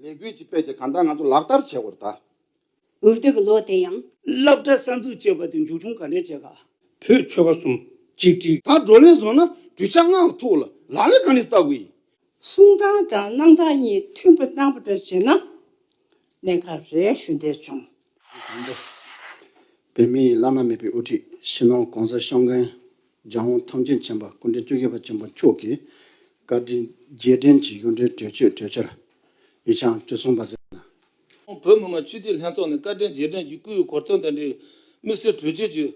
ལས་འགུལ་གྱི་དཔེ་དེ་གང་ལྟར་ང་ཚོ་ལག་བསྟར་བྱེད་དགོས་རེད། འོས་བསྡུ་གི་ལོ་དེ་ཡང། བསླབ་གྲྭ་གསར་འཛུགས་བྱས་པ་དེ་མཇུག་བྱུང་ག་འདྲའི་བྱེད་ག། བོད་ཆོལ་ཁ་གསུམ་གཅིག་སྒྲིལ། ད་བགྲོ་གླེང་བཟོ་ན་གྲུས་ཆ་སྔ་ག་ཐུག་ལ་ལག་ལེན་ག་ནས་བསྟར་དགོས་ཡིན། གསུང་སྟངས་དང་གནང་སྟངས་གཉིས་མཐུན་པོ་གནང་པ་ལྟར་བྱེད་ན་གནད་འགག་རེ་ཞུ་འདོད་བྱུང། བོད་མིའི་བླ་ན་མེད་པའི་དབུ་ཁྲིད་ཕྱི་ནང་གང་སར་ཤང་ཀན་ལྗང་བོ་ཐང་ཆེན་ཆེན་པ་སྐུ་འཕྲེང་བཅོ་བརྒྱད་པ་ཆེན་པོ་མཆོག་གིས་བཀའ་དྲིན་རྗེས་དྲན་གྱི་གཡུང་དྲུང་གྲོས་ཆོད་གྲོས་འཆར་ཡིག་ཆ་བཅུ་གསུམ་པ་བསྩལ་གནང། ཁོང་བོད་མི་མང་སྤྱི་འཐུས་ལྷན་ཚོགས་ནས་བཀའ་དྲིན་རྗེས་དྲན་གྱི་སྐུའི་གོ་སྟོན་དང་འབྲེལ་དམིགས་བསལ་གྲོས་ཆོད་ཅིག་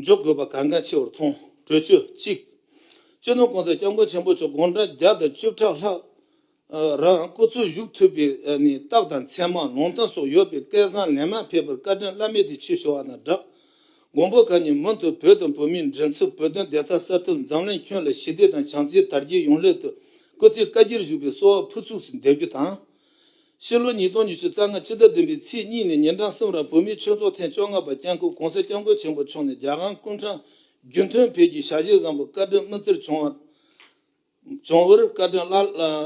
འཇོག་དགོས་པ་གལ་འགངས་ཆེ་བར་མཐོང། གྲོས་ཆོད་གཅིག། བཅོ་ནུབ་གོང་ས་སྐྱབས་མགོན་ཆེན་པོ་མཆོག་དགུང་གྲངས་བརྒྱ་དང་བཅུ་ཕྲག་ལྷག་རང་སྐུ་འཚོ་བཞུགས་ཐུབ་པའི་རྟགས་དང་མཚན་མ་ལུང་ཐང་སོགས་ཡོད་པའི་སྐལ་བཟང་ལན་མང་ཕེབས་པར་བཀའ་དྲིན་བླ་མེད་དུ་ཆེ་ཞུ་བ་དང་སྦྲགས། མགོན་པོ་གང་ཉིད་མུ་མཐུད་བོད་དང་བོད་མིའི་མགྲིན་ཚབ་བོད་དོན་བདེ་ཐབས་གསར་ཐུབ་འཛམ་གླིང་ཁྱོན་ལ་ཞི་བདེ་དང་བྱམས་བརྩེའི་དར་རྒྱས་ཡོང་སླད་དུ་སྐུ་ཚེ་བཀའ་རྒྱར་བཞུགས་པའི་གསོལ་བ་ཕུར་ཚུགས་སུ་འདེབས་རྒྱུ་དང། ཕྱི་ལོ་ཉིས་སྟོང་ཉི་ཤུ་རྩ་ལྔ་ཕྱི་ཟླ་བདུན་པའི་ཚེས་གཉིས་ནས་ཉིན་གྲངས་གསུམ་རིང་བོད་མིའི་ཆོས་ཚོགས་ཐེངས་བཅོ་ལྔ་པ་སྐྱབས་མགོན་གོང་ས་སྐྱབས་མགོན་ཆེན་པོ་མཆོག་ནས་རྒྱ་གར་ཀུན་དྲང་རྒྱུན་ཐོན་བོད་ཀྱི་ཞལ་བཞེས་བཟང་པོ་བཀའ་དྲིན་སྨིན་བསྩལ་བྱུང་བ། རྫོང་ཨུར་བཀའ་དྲིན་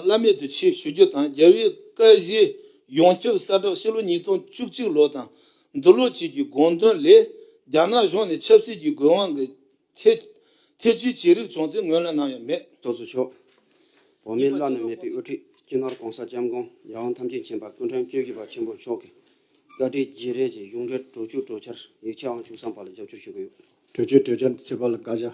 བླ་མེད་དུ་ཆེ་ཞུ་རྒྱུ་དང་རྒྱལ་བའི་བཀའ་བཞི་ཡོངས་ཁྱབ་གསལ་བསྒྲགས་ཕྱི་ལོ་ཉིས་སྟོང་བཅུ་གཅིག་ལོ་དང་འདི་ལོ་བཅས་ཀྱི་དགོངས་དོན་ལས་རྒྱ་ནག་གཞུང་ནས་ཆབ་སྲིད་ཀྱི་དགོས་དབང་གིས་ཐེ་ཐེ་ཇུས་བྱས་རིགས་བྱུང་ཚེ་ངོས་ལེན་གནང་ཡ་མེད། ཚོགས་གཙོ་མཆོག། འོག་མའི་བླ་ན་མེད་པའི་དབུ་ཁྲིད་སྤྱི་ནོར ྋགོང་ས ྋསྐྱབས་མགོན ྋརྒྱལ་དབང་ཐམས་ཅད་མཁྱེན་པ་སྐུ་མགྲོན་གཅོད་ཀྱི་པ་ཆེན་པོ་མཆོག་གི་བཀའ་ཁྲིའི་བརྗེ་རེས་ཀྱི་གཞུང་འབྲེལ་གྲོས་ཆོད་གྲོས་འཆར་ཡིག་ཆའང་བཅུ་གསང་པ་ལ་རྒྱབ་སྐྱོར་ཞུ་གི་ཡོད། གྲོས་ཆོད་གྲོས་འཆར་འདི་ཚེས་པ་ལ་བཀའ་བཞག།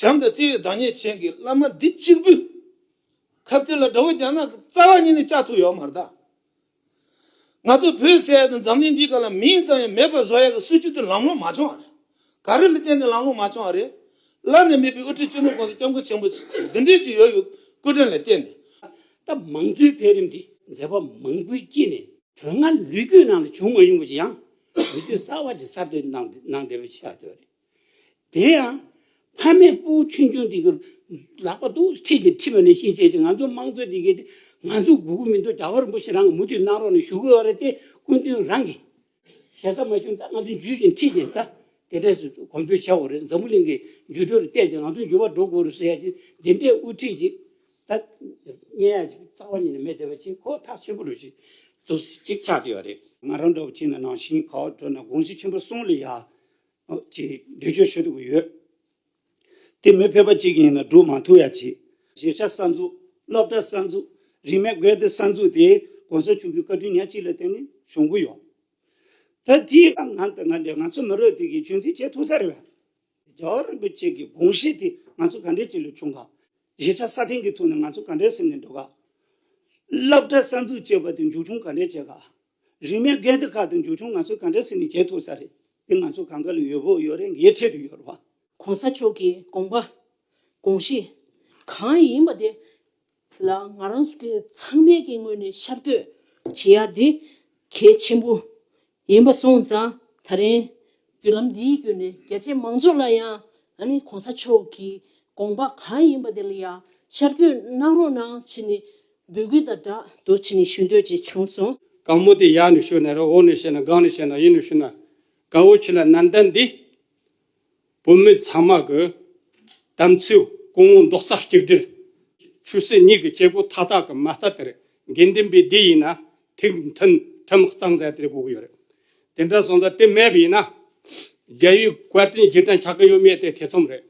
བྱམས་དང་བརྩེ་བའི་བདག་ཉིད་ཅན་གྱི་བླ་མ་འདི་གཅིག་པུས། ཁབ་གཏེར་ལ་དགྲ་བོ་རྒྱ་ནག་གི་རྩ་བ་གཉིས་ནི་ལྕགས་ཐུག་ཡོག་མར་བཏགས། ང་ཚོ་བོད་ཟེར་ཡ་དང་འཛམ་གླིང་འདིའི་སྐབས་ལ་མིང་ཙམ་ཡང་མེད་པར་བཟོ་ཡ་གི་སྲིད་བྱུས་དེ་ལམ་ལོང་མ་བྱུང་བ་རེད། ག་རེ་ལ་བརྟེན་ནས་ལམ་ལོང་མ་བྱུང་བ་རེད། ལར་ནས་མེད་པའི་དབུ་ཁྲིད་གཅིག་ནོར་གོང་ས་སྐྱབས་མགོན་ཆེན་པོ་བདུན་འདྲེ་ཞིག་ཡོད་ཡོད་སྐུ་དྲིན་ལ་བརྟེན་ནས། ད་མང་གཙོའི་འཕེལ་རིམ་འདི་མཛད་པ་མང་པོའི་དཀྱིལ་ནས། དོན་ལྔ་ལུས་རྒྱུད་ནང་ལ་བྱུང་མ་མྱོང་པ་ཅིག་ཡང། ལུས་རྒྱུད་གསར་བ་ཅིག་གསར་གཏོད་གནང་བདེ་པོ་བྱེད་ཡག་དོན་རེད། དེ་ཡང། ཕ་མས་སྤུ་བོ་ཆུང་ཆུང་དེ་གར་ལག་པ་རྡོག་ཐོ་ཁྲིད་ཅིང་ཁྲིད་པ་ནི་ཤིང་བྱས་ཏེ་ང་ཚོ་དམངས་གཙོའི་སྡེ་དགེ་སྟེ་ང་ཚོའི་གུ་གུ་མི་འདུག་རྒྱ་གར་རིན་པོ་ཆེ་རང་གིས་མུ་མཐུད་གནང་རོགས་ནས་ཞུ་དགོས་བ་རེད་དེ་སྐུ་མདུན་རང་གིས་བྱས་ས་མ་བྱུང་ད་ང་ཚོས་འཇུས་ཅིང་ཁྲིད་ཅིང་ད་དེ་འདྲས་སུ་གོམ་བགྲོད་བྱས་བ་རེད་འཛམ་བུ་གླིང་གི་འགྱུར་འགྲོས་ལ་བལྟས་ཅིང་ང་ཚོའི་འགྱུར་བ་འགྲོ་དགོས་རེད་ཟེར་ཡ་ཅིག་འདི་འདྲས་དབུ་ཁྲིད་ཅིག་ད་བརྙན་ཡ་ཅིག་རྩ་བ་ཉིད་ནས་མེད་བསྡད་པ་ཅིག་ཁོག་ཐག་ཆོད་པོ་རེད་ཅིག་ཏུ་ཅིག་ཆགས་བསྡད་བ་རེད། ང་རང་འདྲ་བ་ཅིག་ན་ནང་བཞིན་ག་བ་བགྲོད་ན་དགོངས་གཞི་ཆེན་པོ་གསུངས་ལ་ཡ། ཅེས་འགྲེལ་བརྗོད་ཞུ་འདོད་ཡོད། དེ་མི་ཕལ་པ་གཅིག་ཡིན་ན་སྒྲུབ་མང་ཐུབ་ཡག་གྱིས། གཞིས་ཆགས་གསར་འཛུགས། སློབ་གྲྭ་གསར་འཛུགས། རིས་མེད་སྒོས་དེ་གསར་འཛུགས་དེ་གོང་ས་མཆོག་གི་བཀའ་དྲིན་ཉག་གཅིག་ལ་བརྟེན་ནས་བྱུང་གི་ཡོད། ད་དེའི་སྐབས་ང་དང་ང་འདྲའི་ང་ཚོ་མི་རོ་དེ་གིས་རྒྱུན་འཛིན་བྱེད་ཐུབ་ས་རེད་བ། རྒྱ་གར་རིན་པོ་ཆེ་གི་དགོངས་བཞེད་དེ་ང་ཚོ་ག་འདྲའི་ཅིག་ལ་བྱུང་ག། གཞིས་ཆགས་གསར་འཐེན་གི་ཐུགས་ནས་ང་ཚོ་ག་འདྲའི་སེམས་ནས་འགྲོ་ག། སླབ་གྲྭ་གསར་འཛུགས་ཅེས་པ་དེ་མཇུག་བྱུང་ག་འདྲའི་བྱེད་ག། རིང་མིན་སྐད་འདི་ཁ་དང་འཇུག་ཆུང་ང་ཚོས་ག་འདྲ་བསྲེས་ནས་བྱེད་ཐུབ་ས་རེད། དེ་ང་ཚོ་གངས་དཀར་ལ་ཡོད་བོད་ཡོད་རེད་འགའི་འཕྲལ་དུ་ཡོད་རེད། གོང་ས་མཆོག་གི་དགོངས་པ། དགོངས་གཞི། གང་ཡིན་པ་དེ་ལ་ང་རང་སུ་དེ་ཚང་མས་ཀྱི་ངོས་ནས་ཤར་སྐྱོད་བྱེད་ཡག་དེ་གལ་ཆེན་པོ་ཡིན་པ་སོང་ཙང་ད་རིང་བརྒྱུད་ལམ་འདིའི་བརྒྱུད་ནས་རྒྱལ་གཅེས་མང་ཚོགས་ལ་ཡང་ནི་གོང་ས་མཆོག་གི་དགོངས་པ་གང་ཡིན་པ་དེ་ལ་ཡང་ཤར་བསྐྱོད་གནང་རོགས་གནང་བྱས་ནས་འབོད་སྐུལ་དང་སྦྲགས་ཏུ་བྱས་ནས་ཞུ་འདོད་ཅིག་བྱུང་སོང། གང་མོ་དེ་ཡག་ནས་ཤོད་ན་རེད་འོག་ནས་བཤད་ན་སྒང་ནས་བཤད་ན་གཡས་ནས་བཤད་ན་དགའ་བོ་ཁྱེད་ལ་ནན་ཏན་འདི་བོད་མི་ཚང་མ་གི་དམ་ཚིག་སྐུ་ངོ་མདོག་རྩ་གཅིག་སྒྲིལ། ཆོས་སྲིད་གཉིས་ཀྱི་སྐྱེ་སྒོ་མཐའ་དག་གི་མ་རྩ་དེར་དགེ་འདུན་པའི་སྡེ་ཡིན་ན་ཐིག་མཐུན་ཁྲིམས་གཙང་སྲས་དེ་དགོས་ཀྱི་ཡོད་རེད། དེ་འདྲ་སོང་ཙང་དེ་མེད་པ་ཡིན་ན། རྒྱལ་ཡུལ་བཀའ་དྲིན་རྗེས་དྲན་ཆགས་ཀྱི་ཡོད་མེད་དེ་ཐེ་ཚོམ་རེད།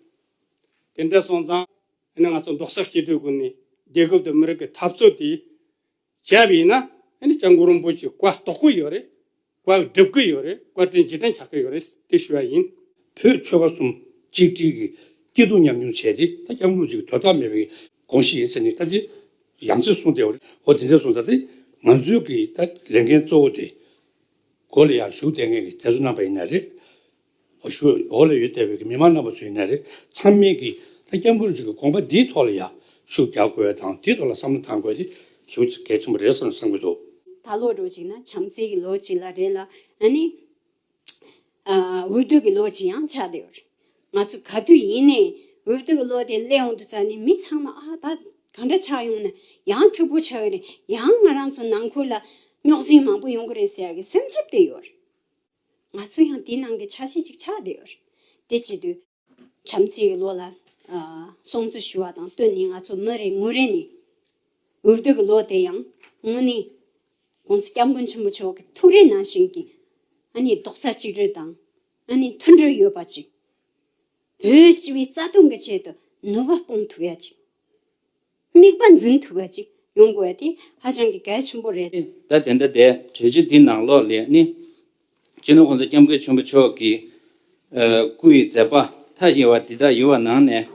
དེ་འདྲ་སོང་ཙང། ཨ་ནི་ང་ཚོ་འབྲོག་ས་སྐྱིད་གྲོས་ཀུན་ནས་རྒྱལ་ཁབ་དང་མི་རིགས་ཀྱི་འཐབ་རྩོད་དེ། བྱས་པ་ཡིན་ན། ཨ་ནི་སྤྱང་ཀུ་རིན་པོ་ཆེ་བཀའ་རྟོགས་ཀྱི་ཡོད་རེད། བཀའ་སྒྲུབ་ཀྱི་ཡོད་རེད་བཀའ་དྲིན་རྗེས་དྲན་བྱ་གི་ཡོད་རེད་དེ་ཞུ་བ་ཡིན། བོད་ཆོལ་ཁ་གསུམ་གཅིག་སྒྲིལ་གྱི་སྐྱིད་སྡུག་མཉམ་མྱོང་བྱས་ཏེ་ད་སྐྱབས་མགོན་གཅིག་དོན་དག་མེད་པའི་དགོངས་གཞི་ཡིན་ཟེར་ནས་ད་དེ་ཡང་ཚིག་གསུངས་ཏེ་ཨོ་དེ་འདྲས་གསུངས་ད་དེ་ང་ཚོའི་གི་ད་ལས་འགན་གཙོ་བོ་དེ། སྒོ་ལ་ཡང་ཞུགས་ལྟས་ངན་གི་མཛད་གཙོ་གནང་པ་ཡིན་ན་རེད། ཨོ་ཞོ་འོག་ལ་ཡོད་བསྡད་པའི་མི་མང་རྣམ་པ་ཚོའི་ནས་རེ་མཚམས་མེད་ཀྱིས་ད་སྐྱབས་མགོན་གྱི་དགོངས་པ་འདིའི་ཐོག་ལ་ཡར་ཞུ་རྒྱག་དགོས་དང་དེའི་ཐོག་ལ་བསམ་བློ་གཏང་དགོས་དེ་ཞུ་ཚིག་གལ་ཆེན་པོ་རེད་བསམ་བསམ་གྱི་འདུག། ད་ལོ་རོ་གཅིག་ན་བྱམས་བརྩེ་གི་ལོ་གཅིག་ལ་རེད་ལ་ཨ་ནི་འུད་བསྟོད་ཀྱི་ལོ་གཅིག་ཡང་ཆགས་བསྡད་ཡོད་རེད། ང་ཚོ་ག་དུས་ཡིན་ནས་འུད་བསྟོད་ཀྱི་ལོ་དེ་སླེབས་འོང་དུ་ཙང་ནི་མི་ཚང་མ་ཨ་ད་ག་འདྲ་ཆགས་ཡོང་ན་ཡང་འཁྲུག་པོ་ཆགས་ཀྱི་རེད་ཡང་ང་རང་ཚོ་ནང་ཁུལ་ལ་རྙོག་འཛིང་མང་པོ་ཡོང་གི་རེད་ཟེར་ཡག་གི་སེམས་འཚབ་བསྡད་ཡོད་རེད། ང་ཚོ་ཡང་དེའི་ནང་གི་ཆ་ཤས་ཅིག་ཆགས་བསྡད་ཡོད་རེད། དེ་བྱེད་དུས། བྱམས་བརྩེའི་བློ་ལ་སྲུང་བརྩི་ཞུ་བ་དང་བསྟུན་ནས་ང་ཚོ་མི་རེ་ངོ་རེ་ནས་འུར་སྡོད་ཀྱི་བློ་དེ་ཡང་དངོས་གནས ྋགོང་ས ྋསྐྱབས་མགོན་ཆེན་པོ་མཆོག་གི་ཐུགས་རེ་ནང་བཞིན་གྱི་རྡོག་རྩ་གཅིག་སྒྲིལ་དང་མཐུན་སྒྲིལ་ཡོད་པ་ཅིག་བོད་སྤྱི་བའི་རྩ་དོན་གྱི་ཆེད་དུ་ནུས་པ་སྤུངས་ཐུབ་ཡ་ཅིག་དམིགས་པ་འཛིན་ཐུབ་པ་ཅིག་ཡོང་དགོས་པ་དེ་ཧ་ཅང་གི་གལ་ཆེན་པོ་རེད། ད་དེ་འདྲ་དེ་གྲོས་ཆོད་འདི་ནང་ལོགས་ལས་ནི། སྤྱིར་ན་ཁོང་ཚོ་སྐྱབས་མགོན་ཆེན་པོ་མཆོག་གི་སྐུ་ཡི་མཛད་པ་མཐའ་ཡས་བ་འདི་དག་ཡོད་བ་ནང་ནས།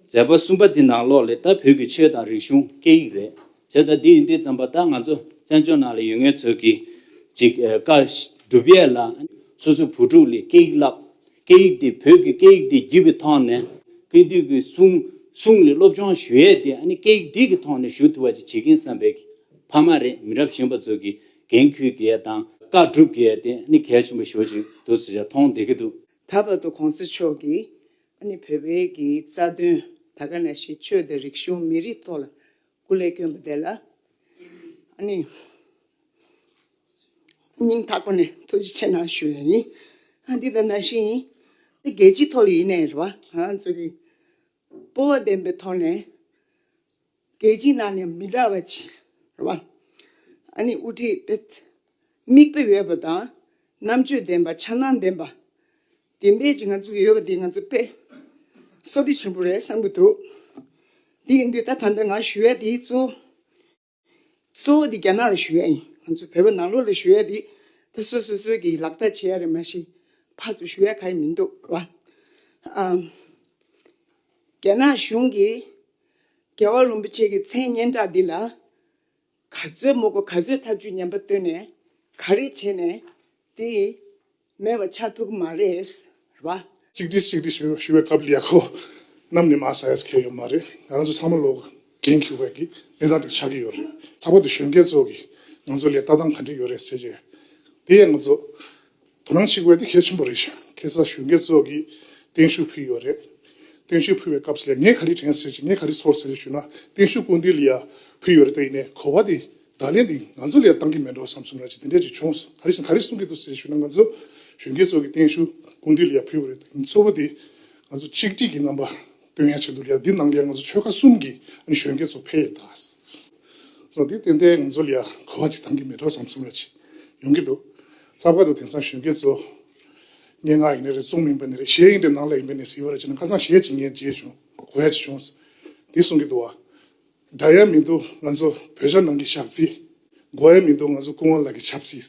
མཛད་པ་གསུམ་པ་འདི་ནང་ལོགས་ལས་ད་བོད་ཀྱི་ཆོས་དང་རིག་གཞུང་སྐད་ཡིག་རེད་བྱས་ཙང་འདི་ཡིན་འདི་ཙམ་པ་ད་ང་ཚོ་བཙན་བྱོལ་ནང་ལ་ཡོད་ངེས་ཚོད་ཀྱིས་ཅིག་དཀའ། སྒྲུབ་ཡས་ལ། སོ་སོའི་བུ་ཕྲུག་ལས་སྐད་ཡིག་བསླབ། སྐད་ཡིག་དེ་བོད་ཀྱི་སྐད་ཡིག་དེ་བགྱིས་པའི་ཐོག་ནས་དགེ་འདུན་གྱི་གསུང་གསུང་ལས་སློབ་སྦྱོང་ཞུ་ཡས་དེ་ཨ་ནི་སྐད་ཡིག་འདི་གི་ཐོག་ནས་ཞུ་ཐུབ་པ་ཅིག་བྱེད་ཀྱིན་བསམ་པས་ཕ་མ་རེད་མི་རབས་གཞན་པ་ཚོ་གི་འགན་ཁུར་གྱི་ཡས་དང་བཀའ་སྒྲུབ་གྱི་ཡས་དེ་ཨ་ནི་གལ་ཆེན་པོ་ཞོག་ཅིག་འདུག་ཟེར་ཡས་ཐོང་བསྡད་ཀྱི་འདུག། ད་བར་དུ་གོང་ས་མཆོག་གིས་ཨ་ནི་བོད་པའི་གི་རྩ་དོན་ད་ག་ན་ཞིག་ཆོས་དང་རིག་གཞུང་མི་རིགས་ཐོག་ལ་སྐུ་ལས་གྱོན་པ་དེ་ལ་ནི། སྙིང་ཐག་པ་ནས་ཐུགས་རྗེ་ཆེ་གནང་ཞུ་ཡི་ཡིན། འདི་ལྟར་ན་ཤིང་ཡིན། འདི་རྒྱལ་སྤྱིའི་ཐོག་ལ་ཡིན་ནའི་རེད་བ། ང་ཚོ་གི་སྤོབས་བ་ལྡན་པའི་ཐོག་ནས། རྒྱལ་སྤྱིའི་ནང་ནས་མི་འདྲ་བ་ཅིག་རེད་བ། ཨ་ནི་དབུ་ཁྲིད་དམིགས་དཔེ་ཡོད་པ་དང། རྣམ་དཔྱོད་ལྡན་པ་འཆར་སྣང་ལྡན་པ། དེ་འདས་ཀྱི་ང་ཚོ་ཡོད་པ་དེ་ང་ཚོ་དཔེ་སོ་ཏི་ཆེན་པོ་རེད་བསམ་གྱི་འདུག་དེ་ཡིན་དུས་ད་ད་ལྟ་ང་ཞུ་ཡ་དེ་གཙོ་བོ་གཙོ་བོ་དེ་རྒྱ་ནག་ལ་ཞུ་ཡ་ཡིན་ང་ཚོ་བོད་པ་ནང་ལོག་ལ་ཞུ་ཡ་དེ་ད་སོ་སོ་སོ་གི་ལག་བསྟར་བྱེད་ཡ་རེད་མ་གཞི་ཕར་ཚུར་ཞུ་ཡ་ག་ཡི་མི་འདུག་བ་རྒྱ་ནག་གཞུང་གི་རྒྱལ་བ་རིན་པོ་ཆེ་གི་མཚན་སྙན་གྲགས་འདི་ལ་ག་ཚོད་མོ་གོ་ག་ཚོད་ཐབས་ཇུས་ཉམས་པ་བཏོན་ནས་ག་རེ་བྱས་ནས་དེ་མེད་པ་ཆགས་ཐུབ་ཀྱི་མ་རེད་བ། གཅིག་སྒྲིལ་གཅིག་སྒྲིལ་ཞུ་བའི་སྐབས་ལས་ཁོ་རྣམས་ནས་མ་ཟ་ཡས་ཁེ་ཡོད་མ་རེད་ང་རང་ཚོ་ཚང་མ་ལོག་གེང་ཁེའུ་བས་ཀྱི་གནས་སྟངས་དེ་ཆགས་ཀྱི་ཡོད་རེད་ལྷག་པར་དུ་གཞོན་སྐྱེས་ཚོ་གིས་ང་ཚོ་ལས་ལྟ་སྟངས་ག་འདྲི་ཡོད་རེད་ཟེར་གྱི་རེད་དེ་ཡས་ང་ཚོ་དོ་སྣང་བྱེད་དགོས་པ་དེ་གལ་ཆེན་པོ་རེད་ཞིང་གེ་སར་གཞོན་སྐྱེས་ཚོགས་ཀྱིས་སྟེང་ཤུགས་ཕུལ་ཡོད་རེད། སྟེང་ཤུགས་ཕུལ་བའི་སྐབས་སུ་ལས་ངན་ག་རེ་དྲན་ཟེར་གྱི་ངན་ག་རེ་ཚོར་ཟེར་ཞུས་ན་སྟེང་ཤུགས་སྐུལ་འདེད་ལ་ཡར་ཕུལ་ཡོད་རེད་དེ་ཡིན་ནས་གོ་བ་དེ་བརྡ་ལན་འདི་ང་ཚོ་ལ་ཡང་གཏང་གི་མེད་འགྲོ་བསམ་སོང་ར་ཅིག་དེ་འདྲས་ཅིག་བྱུང་སོང་ག་རེ་བྱུང་ག་རེ་གསུང་གི་འདུག་ཟེར་ཞུས་ན་ང་ཚོ་གཞོན་སྐྱེས་ཚོགས་ཀྱིས་སྟེང་ཤུགས་སྐུལ་འདེད་ལ་ཡར་ཕུལ་བ་རེད་དེ་ཡིན་གཙོ་བོ་དེ་ང་ཚོ་གཅིག་སྒྲིལ་གྱི་རྣམ་པ་སྟོན་ཡ་བྱས་འདུག་ཡ་འདི་ནང་ལ་ཡང་ང་ཚོ་ཆོལ་ཁ་གསུམ་གྱི་གཞོན་སྐྱེས་ཚོ་ཕེབས་ཡོད་དཱ། ལོ་འདིའི་ཏན་ཏན་ང་ཚོ་ལ་ཡང་གོ་བ་ཅིག་འདང་གི་མེད་འགྲོ་བསམ་གསུམ་རེ་ཅིག་ཡོང་གི་འདུག་ལྷག་པར་དུ་དེང་སང་གཞོན་སྐྱེས་ཚོ། སྙན་ངག་ཡིན་རེ་རེད་རྩོམ་ཡིན་པ་ནི་རེད་གཞས་ཡིན་རེད་ནང་ལ་ཡིན་པ་ནས་ཟེར་བ་རེ་བྱས་ན་ཁ་ཚང་གཞས་ཅིག་ཉན་བརྗེད་བྱུང་གོ་བ་ཅིག་བྱུང། འདི་གསུང་གི་འདུག་བ། འདྲ་ཡ་མི་འདུག་ང་ཚོ་བོད་ཤར་ནང་གི་ཞག་རྩིས། འགོ་ཡ་མི་འདུག་ང་ཚོ་ཀུན་དབང་ལགས་ཀྱི་ཆབ་སྲིད།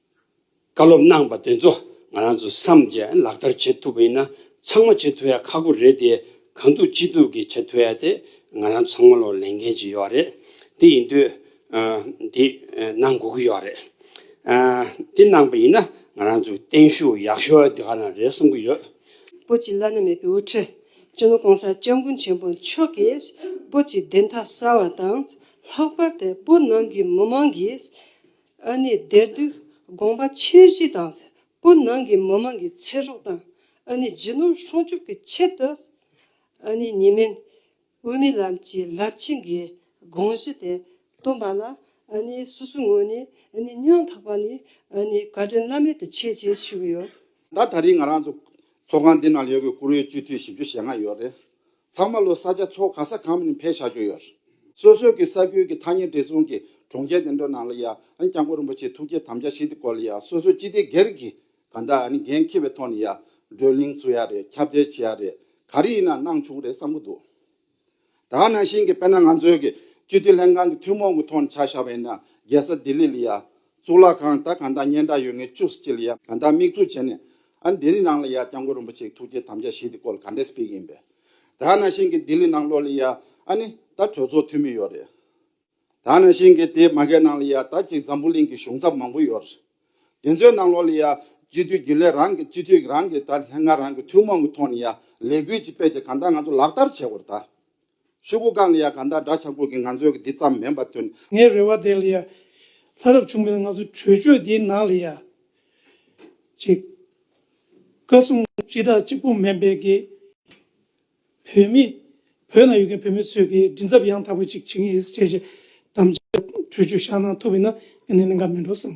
བཀའ་སློབ་གནང་བ་དེ་ཚོ་ང་རང་ཚོས་བསམ་གྱིས་ལག་བསྟར་བྱེད་ཐུབ་པ་ཡིན་ན་ཚང་མ་བྱེད་ཐུབ་ཡ་ཁག་པོ་རེད་དེ་གང་ཐུབ་ཅི་ཐུབ་ཀྱིས་བྱེད་ཐུབ་ཡ་དེ་ང་རང་ཚང་མ་ལོ་ལེན་མཁན་ཅིག་ཡོད་རེད་དེ་ཡིན་དུས་དེ་གནང་དགོས་ཀྱི་ཡོད་རེད། དེ་གནང་པ་ཡིན་ན་ང་རང་ཚོས་བརྟན་ཤུགས་ཡག་ཤོས་དེ་ག་ན་རེད་བསམ་གྱི་ཡོད། པོ་ཅི་བླ་ན་མེད་པའི་དབུ་ཁྲིད་ཅི་ནུ་གོང་ས་སྐྱབས་མགོན་ཆེན་པོ་མཆོག་གིས་པོ་ཅི་བདེན་མཐའ་གསལ་བ་དང་ལྷག་པར་དེ་པོ་ནང་གི་མི་མང་གིས་ཨ་ནི་དེར་དུས་དགོངས་པ་ཆེན་བཞི་དང་སེ་པོ་ནང་གི་མི་མང་གི་ཚེ་སྲོག་དང་ཨ་ནི་རྗེ་ནོར་སྲུང་སྐྱོབ་ཀྱི་ཆེད་དུ་ཨ་ནི་ཉི་མེན་དབུ་མའི་ལམ་གྱི་རླབས་ཆེན་གྱི་དགོངས་གཞི་དེ་བཏོན་པ་ལ་ཨ་ནི་སོ་སོའི་ངོས་ནས་ཨ་ནི་སྙིང་ཐག་པ་ནས་ཨ་ནི་བཀའ་དྲིན་བླ་མེད་དུ་ཆེ་ཆེ་ཞུ་གི་ཡོད། ད་ད་རིང་ང་རང་ཚོ་ཚོགས་ཁང་འདི་ནང་ལས་གོས་བཀུར་འོས་སྤྱི་འཐུས་བཞི་བཅུ་ཞེ་ལྔ་ཡོད་རེད། ཚང་མ་ལོ་གསར་ཆ་ཚོགས་ག་ས་གང་མིན་ཕེབས་བཞག་རྒྱུ་ཡོད། སོ་སོས་ཀྱི་ས་ཁུལ་གྱི་ཐ་སྙད་བྲིས་རྩོམ་གྱི་གྲོང་ཁྱེར་དེ་འདྲ་ནང་ལ་ཡང་སྐྱབས་མགོན་རིན་པོ་ཆེའི་ཐུགས་བསྐྱེད་དམ་བཅའ་ཞིག་འདི་སྐོར་ལ་ཡང་སོ་སོའི་སྤྱི་བདེ་སྒེར་གྱི་ག་འདྲ་འགན་འཁྱེར་བའི་ཐོག་ནས་ཡང་བགྲོ་གླེང་བཟོ་ཡ་རེད་ཁྱབ་བརྡལ་བྱེད་ཡ་རེད་ག་རེ་ཡིན་ན་གནང་བྱུང་རེད་བསམ་གི་འདུག་དག་ནང་བཞིན་གྱི་དཔེར་ན་ང་ཚོའི་གི་སྤྱི་འཐུས་ལྷན་ཁང་གི་ཐུན་མོང་གི་ཐོག་ནས་ཆགས་བཞག་པ་ཡིན་ན་རྒྱལ་ས་ལྡི་ལི་ལ་ཡང་གཙུག་ལག་ཁང་ད་ག་འདྲ་སྙན་གྲགས་ཡོད་ངེས་བཅུ་གཅིག་ལ་ཡང་ག་འདྲ་དམིགས་འཛུགས་བྱས་ནས་ཨ་འདི་རི་ནང་ལ་ཡ་སྐྱབས་མགོན་རིན་པོ་ཆེའི་ཐུགས་བསྐྱེད་དམ་བཅའ་བཞི་དེ་སྐོར་ག་འདྲའི་སྤེལ་གྱི་ཡིན་པས། ད་ནང་བཞིན་གྱི་ལྡི་ལི་ནང་ལོག་ལི་ཡ་ཨ་ནི་ད་གྲོས་ཚོགས་འཐུས་མི་ཡོད་རེད། ད་ནང་བཞིན་གྱི་དེའི་མ་གས་ནང་ལི་ཡ་ད་ཅིག་འཛམ་བུ་གླིང་གི་གཞུང་ཚབ་མང་པོ་ཡོད་རེད། དེ་ཚོའི་ནང་ལོག་ལི་ཡ་སྤྱི་འཐུས་རྒྱུན་ལས་རང་གི་སྤྱི་འཐུས་རང་གི་ད་ལྷན་ཁང་རང་གི་ཐུན་མོང་གི་ཐོག་ནི་ཡ་ལས་འགུལ་གྱི་དཔེ་ཆ་གང་དག་ང་ཚོ་ལག་བསྟར་བྱས་བར་ད། ཆོས་སྐུ་གང་ལ་ཡང་གང་དག་འདྲ་ཆགས་ཀུན་གྱི་ངང་ཚུལ་གྱི་འདི་ཙམ་མིན་པར་སྟོན། ངའི་རེ་བ་བདེན་ལ་ཡ། ལྷ་རབ་བྱུང་མེད་ལ་ང་ཚོ་གྲོས་ཆོད་འདིའི་ནང་ལ་ཡ། ཅིག། བཀའ་གསུང། སྤྱི་བདག་གཅིག་པུ་མེད་པའི་དགེ། བོད་མི། བོད་ནང་ཡོད་མཁན་བོད་མི་ཚོས་ཀྱིས་མགྲིན་ཚབ་ཡང་དག་པ་ཅིག་བྱེད་ཀྱི་ཡིན་ཟེར་བྱས། དམ་བཅའ། གྲོས་ཆོད་བཞག་གནང་ཐུབ་ཡོད་ན་དགེ་ནས་ལན་འགའ་མིན་འགྲོ་བསམ།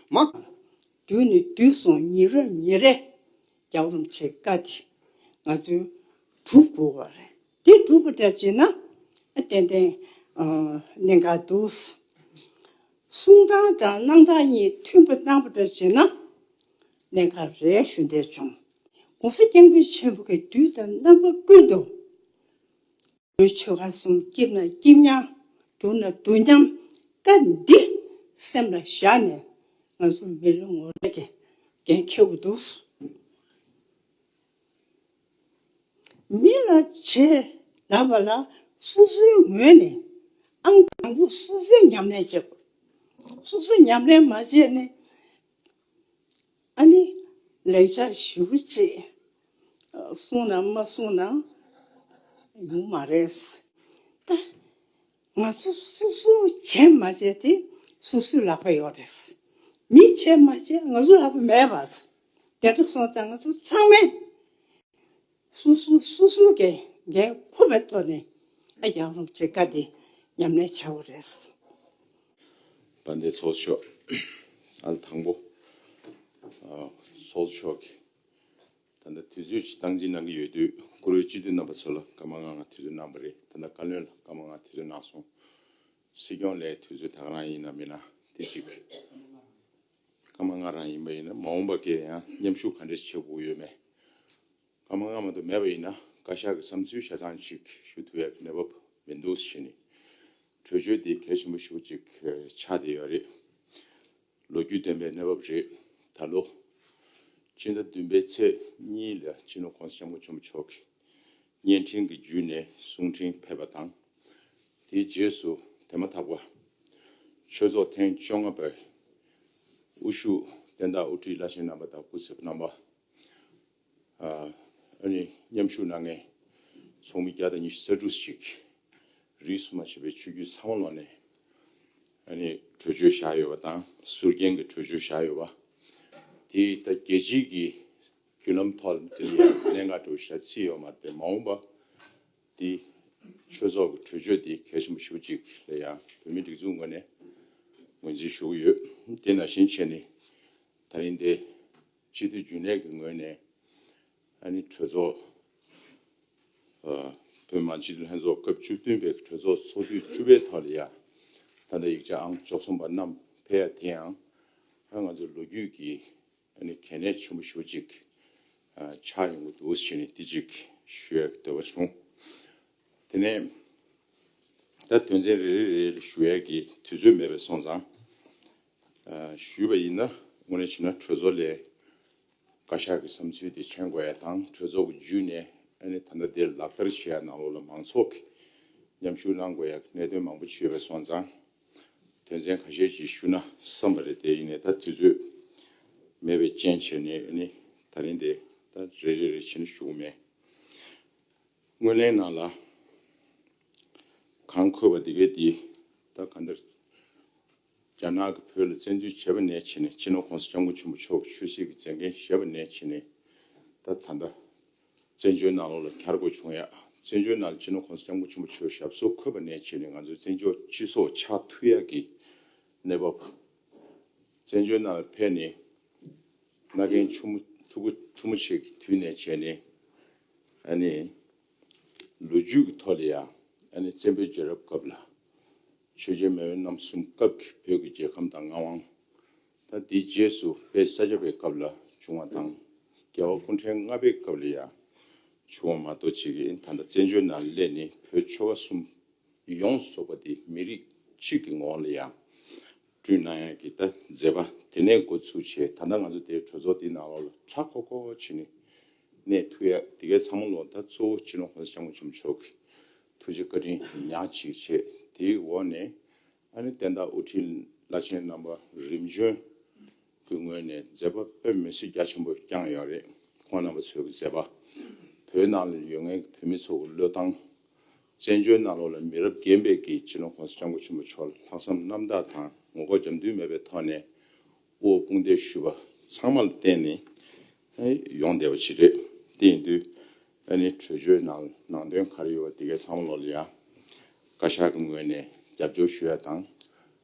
མ། དུས་ནི་དུས་སོང་ཉིན་རེ་ཉིན་རེ་རྒྱ་རུམ་ཆེ་དཀའ་དེ་ང་ཚོའི་གྲུབ་དགོས་བ་རེད་དེ་གྲུབ་པོ་འདྲ་བྱེད་ན་ཏན་ཏན་གནད་འགག་འདུག་གསུང་སྟངས་དང་གནང་སྟངས་གཉིས་མཐུན་པོ་གནང་བ་འདྲ་བྱེད་ན་གནད་འགག་རེད་ཞུ་འདོད་བྱུང་གོང་ས་སྐྱབས་མགོན་ཆེན་པོ་གི་དུས་དང་རྣམ་པ་ཀུན་ཏུ། ལུས་ཆོ་ག་གསུམ་སྐྱིབས་ན་སྐྱིབས་མཉམ། འདུག་ན་འདུག་མཉམ། བཀའ་འདི་སེམས་ལ་བཞག་ནས། ང་ཚོ་མི་རེ་ངོ་རེ་གི་འགན་ཁྱེར་བ་འདུག། མི་ལ་བྱེད་ལ་བ་ལ་སོ་སོའི་ངོས་ནས་ཨང་དང་པོ་སོ་སོས་ཉམས་ལེན་བྱེད་དགོས། སོ་སོས་ཉམས་ལེན་མ་བྱས་ནས། ཨ་ནི། ལེགས་སྦྱར་ཞུ་ཅེས་གསུངས་ན་མ་གསུངས་ན་ཡོང་མ་རེད། ད་ང་ཚོ་སུ་སུ་བྱས་མ་བྱས་དེ་སུ་སུའི་ལག་པས་ཡོད་རེད། མི་བྱས་མ་བྱས་ང་ཚོའི་ལག་པས་མེད་པ། དེ་འདྲ་སོང་ཙང་ང་ཚོ་ཚང་མས། གསུམ་གསུམ་གསུམ་གསུམ་གྱི་འགན་འཁུར་བའི་ཐོག་ནས་ཡང་རུང་བྱེད་དཀའ་སྟེ་ཉམས་ལེན་བྱ་བ་རེད། བ་འདི་ཚོགས་ཆོག་ཨལ་དང་པོ་ཚོགས་ཆོག་གིས་ད་ལྟ་དུས་ཚོད་ཀྱི་སྟངས་འཛིན་གནང་གི་ཡོད་དུས་བཀུར་འོས་སྤྱི་འཐུས་རྣམ་པ་ཚོ་ལ་བཀའ་མ་གནང་ང་དུས་ཚོད་གནང་བ་རེད་ད་ལྟ་བཀའ་བློན་ལ་བཀའ་མ་གནང་དུས་ཚོད་གནང་སོང། སྲིད་སྐྱོང་ལས་དུས་ཚོད་ད་ག་རང་ཡིན་ནམ་མིན་ན་དེ་གཅིག། ཀརྨ་སྔགས་རང་ཡིན་པ་ཡིན་ན་མ་འོངས་པ་འགས་ཡང་མཉམ་ཞུགས་ག་འདྲས་བྱེད་དགོས་ཡོད་མེད། ཀརྨ་སྔ་མ་དུ་མེད་པ་ཡིན་ན་བཀའ་ཤག་གི་བསམ་ཚུལ་ཆ་ཚང་ཞིག་ཞུ་ཐུབ་ཡག་གི་གནས་བབ་མི་འདུག་བཞི་ནི། གྲོས་ཆོད་དེ་གལ་ཆེན་པོ་ཞིག་ཅིག་ཆགས་བསྡད་ཡོད་རེད། ལོ་རྒྱུས་བདེན་པའི་གནས་བབ་རེད། ད་ལོ། སྤྱི་ཟླ་བདུན་པའི་ཚེས་གཉིས་ལ་སྤྱི་ནོར ྋགོང་ས ྋསྐྱབས་མགོན་ཆེན་པོ་མཆོག་གིས། བརྙན་འཕྲིན་གྱི་བརྒྱུད་ནས་གསུང་འཕྲིན་ཕེབས་པ་དང། དེའི་རྗེས་སུ་དེ་མ་ཐག་པ། ཆོས་ཚོགས་ཐེངས་བཅོ་ལྔ་པའི་དབུ་བཞུགས་བསྟན་བདག་དབུ་ཁྲིད་བླ་ཆེན་རྣམ་པ་དང་སྐུ་ཚབ་རྣམ་པ། མཉམ་ཞུགས་གནང་མཁན་ཚོགས་མི་བརྒྱ་དང་ཉི་ཤུ་རྩ་དྲུག་ཅིག་རིས་སུ་མ་ཕྱེ་བའི་ཆོས་བརྒྱུད་ཚང་མ་ལོག་ནས། གྲོས་ཆོད་བཞག་ཡོད་པ་དང་ཟུར་རྒྱན་གྱི་གྲོས་ཆོད་བཞག་ཡོད་པ། དེ་ད་རྒྱལ་སྤྱིའི་གྱི་བརྒྱུད་ལམ་ཐོག་ལ་འདིར་ཡང་གནད་འགག་གྲུབ་བཞག་ཚིག་ཡོད་མ་དེ་མ་འོངས་པ་འདི་ཆོས་ཚོགས་ཀྱི་གྲོས་ཆོད་འདི་གལ་ཆེན་པོ་ཞུ་གཅིག་ལ་ཡང་བོད་མིའི་སྒྲིག་འཛུགས་ངོས་ནས་ངོས་འཛིན་ཞུ་གི་ཡོད་དེ་ནང་བཞིན་བྱས་ནི་ད་རིང་འདི་སྤྱི་འཐུས་རྒྱུན་ལས་ཀྱི་ངོས་ནས་ཨ་ནི་གྲོས་ཚོགས་བོད་མང་སྤྱི་འཐུས་ལྷན་ཚོགས་སྐབས་བཅུ་བདུན་པའི་གྲོས་ཚོགས་ཚོགས་དུས་བཅུ་པའི་ཐོག་ལ་ཡང་ད་ལྟ་ཡིག་ཆ་ཨང་བཅུ་གསུམ་པ་བསྣམས་ཕེབས་ཡ་དེ་ཡང་ང་ཚོ་ལོ་རྒྱུས་ཀྱི་ཨ་ནི་གལ་གནད་ཆེན་པོ་ཞུ་ཅིག། ཆགས་ཡོང་གི་འདུག་ཞེས་ནས་དེ་ཅིག་ཞུས་འདོད་པ་བྱུང། དེ་ནས་ད་དོན་ཚན་རེ་རེ་རེ་ལ་ཞུ་ཡས་ཀྱི་དུས་ཚོད་མེད་པས་སོང་ཙང། ཞུས་པ་ཡིན་ན་དངོས་གནས་བྱས་ན་གྲོས་ཚོགས་ལས་བཀའ་ཤག་གི་བསམ་ཚུལ་དེ་མཁྱེན་དགོས་ཡས་དང་གྲོས་ཚོགས་ཀྱི་བརྒྱུད་ནས་ཨ་ནི་ད་ལྟ་དེ་ལག་བསྟར་བྱེད་ཡས་ནང་ལོགས་ལ་མང་ཚོགས་ཀྱི་མཉམ་ཞུགས་གནང་དགོས་ཡས་ཀྱི་གནད་དོན་མང་པོ་ཆེ་ཡོད་པས་སོང་ཙང། དོན་ཚན་ག་ཤེད་ཅིག་ཞུ་ན་བསམ་པ་རེད་དེ་ཡིན་ནས་ད་དུས་ཚོད་མེད་པའི་རྐྱེན་བྱས་ནས་ཨ་ནི་ད་རིང་དེ་ད་རེ་རེ་རེ་བྱེད་ན་ཞུ་གི་མེད། སྔོན་གླེང་ནང་ལ་གང་འཁོད་པ་དེ་གས་དེ་ད་ག་འདིར་རྒྱ་ནག་གི་བོད་ལ་བཙན་འཛུལ་བྱས་པ་ནས་བྱས་ནས་སྤྱི་ནོར་ཁོང་ས་སྐྱབས་མགོན་ཆེན་པོ་མཆོག་གི་ཆོས་སྲིད་ཀྱི་མཛད་འགན་བཞེས་པ་ནས་བྱས་ནས་ད་ད་ལྟ། བཙན་བྱོལ་ནང་ལོ་ལ་གྱར་དགོས་བྱུང་ཡ། བཙན་བྱོལ་ནང་སྤྱི་ནོར་ཁོངས་སུ་སྐྱབས་མགོན་ཆེན་པོ་ཆོས་ཞབས་སོགས་འཁོད་པ་ནས་བྱས་ནས་ང་ཚོའི་བཙན་བྱོལ་སྤྱི་ཚོགས་ཆགས་མཐུ་ཡག་གི་གནས་བབ། བཙན་བྱོལ་ནང་ལ་ཕེབས་ནས་ང་རྒན་ཆུ་མོ་ཐུ་གུ་ཐུ་མོ་ཆེ་གི་དུས་ནས་བྱས་ནས་ཨ་ནི་ལོ་རྒྱུས་ཀྱི་ཐོག་ལ་ཡ་ཨ་ནི་བཙན་པོའི་རྒྱལ་རབས་སྐབས་ལ་ཆོས་རྒྱལ་མེས་དབོན་རྣམ་གསུམ་སྐབས་ཀྱི་བོད་ཀྱི་རྒྱལ་ཁམས་དང་མངའ་དབང། ད་དེའི་རྗེས་སུ་དཔལ་ས་སྐྱ་པའི་སྐབས་ལ་བྱུང་བ་དང། རྒྱལ་བ་སྐུ་ཕྲེང་ལྔ་པའི་སྐབས་ལ་ཡང་བྱུང་བ་མ་གཏོགས་ཅི་གིས་ད་ལྟ་བཙན་བྱོལ་ནང་སླད་ནི་བོད་ཆོལ་ཁ་གསུམ་ཡོངས་རྫོགས་པ་དེ་མི་རིགས་གཅིག་གི་ངོ་བོ་ལ་ཡང་བསྐྲུན་གནང་ཡ་གི་ད་མཛད་པ་དེ་ནས་འགོ་ཚུགས་བྱས་ད་ལྟ་ང་ཚོ་དེའི་གྲོས་ཚོགས་དེའི་ནང་ལོགས་ལ་གྲྭ་ཁོ་ཁོ་བྱས་ནས་གནས་ཐུག་ཡ་དེ་གའི་ཚང་མ་ལོགས་ད་གཙོ་བོ་སྤྱི་ནོར་གོང་ས་སྐྱབས་མགོན་ཆེན་པོ་མཆོག་གིས་ཐུགས་རྗེ་བཀའ་དྲིན་ཉག་ཅིག་བྱས་དེའི་འོག་ནས་ཨ་ནེ་བསྟན་བདག་དབུ་ཁྲིད་བླ་ཆེན་རྣམ་པ་རིམ་བྱོན་གྱི་ངོས་ནས་མཛད་པ་དཔེ་མི་སྲིད་རྒྱ་ཆེན་པོ་བསྐྱངས་ཡོད་རེད་ཁོང་རྣམ་པ་ཚོས་ཀྱི་མཛད་པ་བོད་ནང་ལ་ཡོད་ངེས་ཀྱི་བོད་མི་ཚོ་གི་བློས་བཏང་བཙན་བྱོལ་ནང་ལོག་ལ་མི་རབས་རྒན་པས་ཀྱི་སྤྱི་ནོར་ཁོང་ས་སྐྱབས་མགོ་ཆེན་པོ་མཆོག་ལ་ལྷག་བསམ་རྣམ་དག་དང་ངོ་ལྐོག་རྒྱབ་མདུན་མེད་པའི་ཐོག་ནས་དབུ་འོག་དཔུང་འདེགས་ཞུས་པ་ཚང་མ་ལ་བརྟེན་ནས་ཡོང་བསྡད་པ་ཞིག་རེད་དེ་ཡིན་དུས་ཨ་ནི་གྲོས་ཆོད་ནང་ནང་དོན་ག་རེ་ཡོད་པ་དེ་གའི་ཚང་མ་ལོག་ལ་ཡ། བཀའ་ཤག་གི་ངོས་ནས་རྒྱབ་སྐྱོར་ཞུ་ཡ་དང།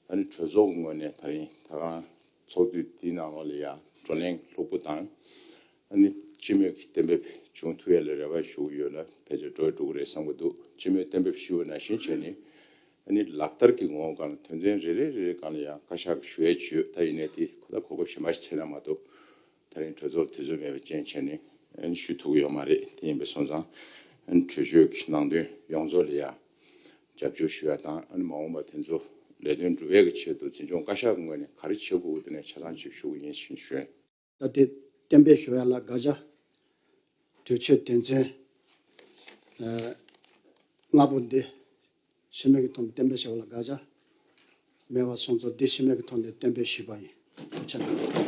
ཨ་ནི་གྲོས་ཚོགས་ཀྱི་ངོས་ནས་ད་རིང་ད་གང་ཚོགས་དུས་དེའི་ནང་ལོག་ལ་ཡ་བགྲོ་གླེང་ལྷུག་པོ་དང། ཨ་ནི་སྤྱི་མོས་ཀྱི་གཏན་འབེབས་ཅུང་ཐུགས་ཡ་ལ་རེ་བ་ཞུ་གི་ཡོད་ལ་ཕལ་ཆེར་འགྲོ་ཡ་འགྲོ་གི་རེད་བསམ་གི་འདུག་སྤྱི་མོས་གཏན་འབེབས་ཞུ་བ་ནང་བཞིན་བྱས་ནས། ཨ་ནི་ལག་བསྟར་གྱི་ངོ་བོ་གང་ལ་དོན་ཚན་རེ་རེ་རེ་རེ་གང་ལ་ཡ་བཀའ་ཤག་གི་ཞུ་ཡ་བྱོས་ད་ཡིན་ནའི་དེ་གོ་ད་གོ་སྐབས་གཞན་པ་ཞིག་ཚེ་ན་མ་གཏོགས། ད་རིང་གྲོས་ཚོགས་དུས་ཚོད་མེད་པའི་རྐྱེན་བྱས་ནས་ཞུས་ཐུབ་ཀྱི་ཡོད་མ་རེད་དེ་ཡིན་པའི་སོང་ཙང། གྲོས་ཆོད་ཀྱི་ནང་དོན་ཡོངས་རྫོགས་ལ་ཡང་རྒྱབ་སྐྱོར་ཞུ་ཡ་དང་མ་འོངས་པ་དེ་ཚོ་ལས་དོན་འགྲུབ་ཡ་གི་ཆེད་དུ་འཛིན་སྐྱོང་བཀའ་ཤག་གི་ངོས་ནས་ག་རེ་བྱེད་དགོས་ཀྱི་དེ་ནས་ཆ་ཚང་ཅིག་ཞུ་གི་ཡིན་ཞེས་བཤད། ད་ལྟའི་གཏན་འབེབས་ཞུ་ཡ་ལ་དགག་བྱ་གྲོས་ཆོད་དོན་ཚན་ལྔ་པོ་འདི་ཤི་མེད་ཀྱི་དོན་བསྟན་པའི་བྱ་བ་ལ་དགག་བྱ་མེད་པར་སོང་ཚུལ་འདི་ཤི་མེད་ཀྱི་དོན་དུ་བསྟན་པའི་ཞུས་པ་ཡིན་དུ་ཆ་ན།